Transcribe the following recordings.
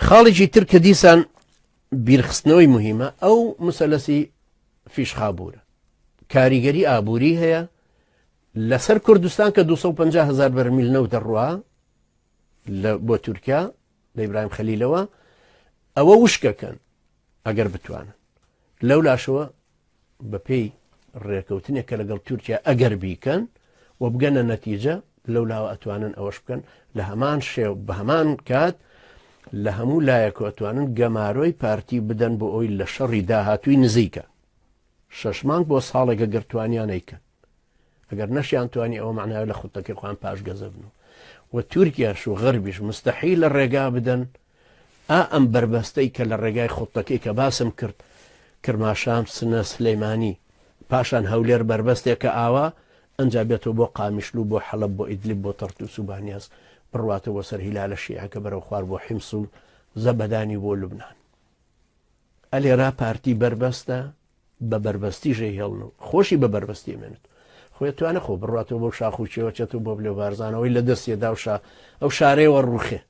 خاڵێکی تر کە دیسان بیرخستنەوەی مهمە ئەو مسەلەسی فیشخابورە کاریگەری ئابووری هەیە لەسەر کوردستان کە 250 هزار بەرمیل نەو دەڕوا لە بۆ تورکیا لە ئیبراهیم خەلیلەوە ئەوە وشکەکەن ئەگەر بتوانن لەولاشەوە بەپێی ڕێکەوتنێک کە لەگەڵ تورکیا ئەگەر بیکەن و بگەنە نەتیجە لەولاوە ئەتوانن ئەوەش بکەن لە هەمان شێو بە هەمان کات لە هەموو لایەک و ئەتوانن گەمارۆی پارتی بدەن بۆ ئەوی لە شەڕی داهاتووی نزیکە شەش مانگ بۆ ساڵێکە گەرتوانیانەیکەن ئەگەر نەشیان توانی ئەوە معناوی لە خوتەکەی خۆیان پاشگەزەبن و و تورکیاش و غەربیش مستەحی لە ڕێگا بدەن ئا ئەم بەربەستەی کە لە ڕێگای خوڵتەکەی کە باسم کرد کرماشان، سنە، سلیمانی، پاشان هەولێر بەربەستێکە ئاوا ئەنجا بێتەوە بۆ قامیشلو بۆ حەڵەب بۆ ئیدلب بۆ تەرتوس و بانیاس بڕواتەوە بۆ سەر هیلالە شیعەکە بەرەو خوار بۆ حیمس و زەبەدانی بۆ لوبنان ئە لێرا پارتی بەربەستە بە بەربەستی ژێ هێڵن و خۆشی بە بەربەستی مێنێت خۆی توانە خۆ بڕاتەوە بۆ شاخ و چێوەچێت و بۆ بلێ بارزانەوەی لە دەستێدا و شا ئەو شارەیەوە ڕوخێ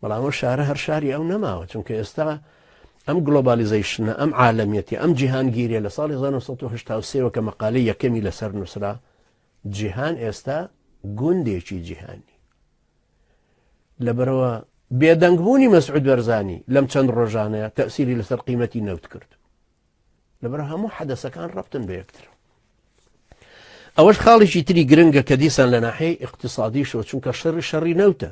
بەڵام ئەو شارە هەر شاری ئەو نەماوە چونکە ئێستا ئەم گلۆبالیزەیشنە ئەم عالمیەتی ئەم جیهانگیریە لە ساڵی 1970 کە مەقالەی یەکەمی لەسەر نووسرا جیهان ئێستا گوندێکی جیهانی لەبەرەوە بێدەنگبوونی مەسعود بەرزانی لەم چەند ڕۆژانەیە تەسیری لەسەر قیمەتی نەوت کرد لەبەر هەموو حەدەسەکان ڕفتن بە یەکتر ئەوەش خاڵێکی تری گرنگە کە دیسان لە ناحەی اقتصادی شۆ چونکە شەڕی شەڕی نەوتە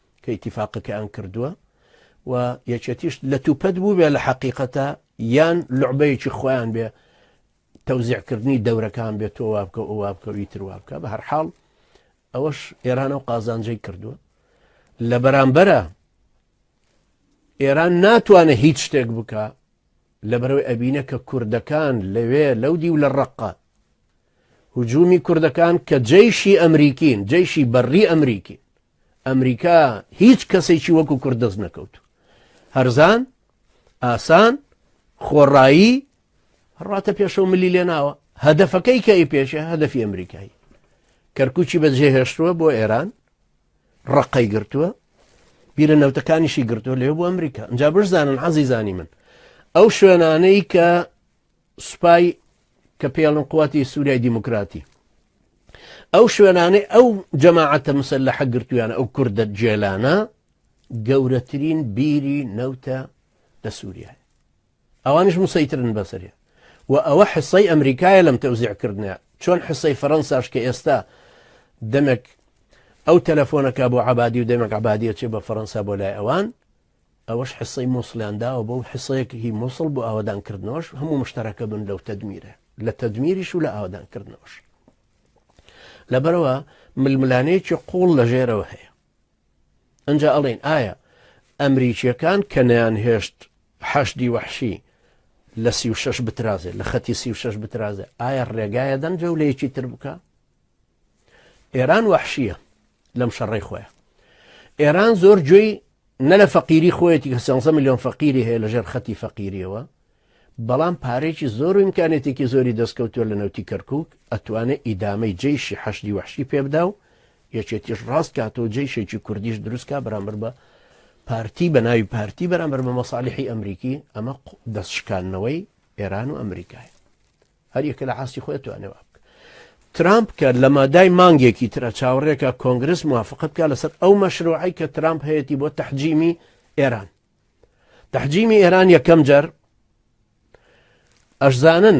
کە ئیتیفاقەکەیان کردووە و یەکێتیش لەتوپەت بووبێ لە حەقیقەتە یان لعبەیەکی خۆیان بێ تەوزیعکردنی دەورەکان بێت تۆ وابکە و وابکەوی تروابکە بە هەرحاڵ ئەوەش ئێرانە و قازانجەی کردووە لە بەرامبەرە ئێران ناتوانێت هیچ شتێک بکە لە بەرەوەی ئەبینە کە کوردەکان لەوێ لەو دی و لە ڕقە هجومی کوردەکان کە جەیشی ئەمریکین جەیشی بەڕی ئەمریکی ئەمریکا هیچ کەسێکی وەکو کورد دەست نەکەوت هەرزان ئاسان خۆڕایی ڕاتە پێشەوە ملی لێ ناوە هەدەفەکەی کە ئی پێشە هەدەفی ئەمریکایی کەرکوچی بە جێهێشتووە بۆ ئێران ڕقەی گرتووە بیرە نەوتەکانیشی گرتووە لێ بۆ ئەمریکا ئەجا بشزانن عزیزانی من ئەو شوێنانەی کە سوپای کە پێڵن قوتی سوریای دیموکراتی ئەو شوێنانەی ئەو جەماعەتە مسلحە گرتویانە ئەو کوردە جێلانە گەورەترین بیری نەوتە لە سووریای ئەوانش مسەیترن بەسەرێ و ئەوە حسەی ئەمریکایە لەم تەوزیعکردنە چۆن حسەی فەەنساش کە ئێستا دەمێک ئەو تەلەفۆنەکە بۆ عبادی و دەمێک عبادیە چێ بە فەەنسا بۆ لای ئەوان ئەوەش حیسەی موسڵیان داوە بەو حیسەیەک هی موسڵ بۆ ئاوەدان کردنەوەش هەموو مشتەرەکە بن لەو تەدمیرە لە تەدمیریش و لە ئاوەدان کردنەوەش لەبەرەوە ململانێکی قوڵ لە ژێرەوە هەیە ئەجا ئەڵێن ئایا ئەمریکیەکان کە نەیان هێشت حەشدی وەحشی لە سی و شش بترازێ لە خەتی سی و شش بترازێ ئایا ڕێگایە دەن جەولەیەکی تر بکە ئێران وەحشیە لەم شەڕی خۆیان ئێران زۆر گوێی نە لە فەقیری خۆیەتی کە سیانسە میلیۆن فەقیری هەیە لە ژێر خەتی فەقیریەوە بەڵام پارێکی زۆر و امکانێتێکی زۆری دەستکەوتووە لە نەوتی کەرکک ئەتوانێت ئیدامەی جیشی حەشدی وحشی پێبدا و یەکێتیش ڕاست کاتەوە جیشێکی کوردیش دروستکە بەرامبەر بە پارتی بە ناوی پارتی بەرامبەر بە مەساالحی ئەمریکی ئەمە دەستشکانەوەی ئێران و ئەمریکای هەر یەکە لە ئاستی خۆی توانێ وا بکە ترامپ کە لە مادای مانگێکی ترە چاوەڕێکە کۆنگرس موافقت بکە لەسەر ئەو مەشروعی کە ترامپ هەیەی بۆ تەحجیمی ئێران تەحجیمی ئێران یەکەم جەر ئەشزانن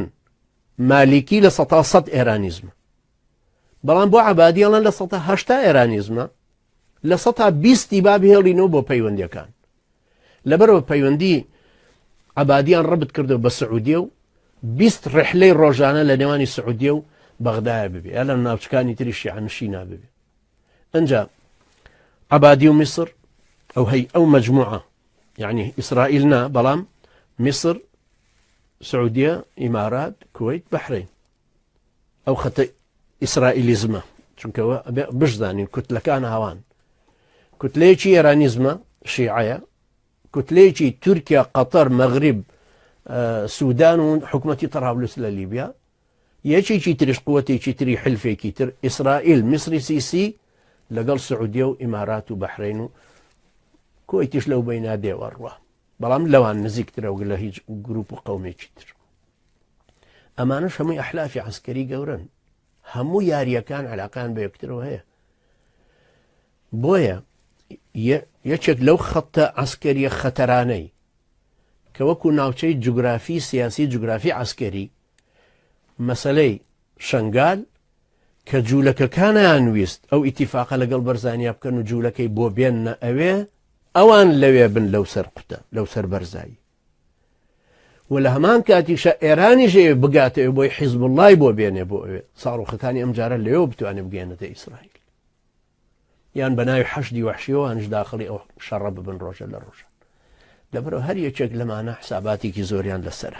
مالیکی لە سەتا سەد ئێرانیزمە بەڵام بۆ عبادیڵەن لە سەهشتا ئێرانیزمە لە سەتا بیستی باب هێڵینەوە بۆ پەیوەندەکان لەبەرئەوە پەیوەندی عەبادیان ڕبت کردو بە سعودیە و بیست ڕحلەی ڕۆژانە لە نێوانی سعودیە و بەغدایە ببێ یا لە ناوچکانی تری شیعنشی نابێ ئەجا عبادی و میسر ئەو هەی ئەو مجموعە یعنی ئیسرائیل نا بەڵام میسر سعودیە ئیمارات کویت بەحرین ئەو خەتە ئیسرائیلیزمە چونکە بشزانین کوتلەکان هاوان کوتلەیەکی ئێرانیزمە شیعەیە کوتلەیەکی تورکیا قەتەر مەغریب سوودان و حکوومەتتی تەراولوس لە لیبیا یەکێکی تریش قوتێکی تری حلفێکی تر ئیسرائیل میسری سیسی لەگەڵ سعودیە و ئیمارات و بەحرین و کۆیتیش لەو بینادێوە ڕوە بەڵام لەوان نزیکترەوە لە هیچ گروپ و قومێکی تر ئەمانە شەمووی ئەحلافی عسکەری گەورن هەموو یاریەکان علاقان بە یەکترەوە هەیە بۆیە یەکێک لەو خەتە ئەسکەریە خەتەرانەی کە وەکو ناوچەی جوگرافی سیاسی جوگرافی عسکەری مەسلەی شنگال کە جوولەکەکانیان ویست ئەو ئیتیفاقە لەگەڵ بەرزانیا بکەن و جوولەکەی بۆ بێنە ئەوێ ئەوان لەوێ بن لەو سەر قوتە لەو سەر بەرزایی و لە هەمان کاتیشە ئێرانیش ئەوێ بگاتە ئەوێ بۆی حیزب اللهی بۆ بێنێ بۆ ئەوێ ساڕۆخەکانی ئەم جارە لەوێ بتوانێت بگەێنێتە ئیسرائیل یان بە ناوی حەشدی وحشیەوەانش داخلی ئەو شەڕە ببن ڕۆژە لە ڕۆژە لەبرەوە هەر یەکێک لەمانە حساباتێکی زۆریان لەسرە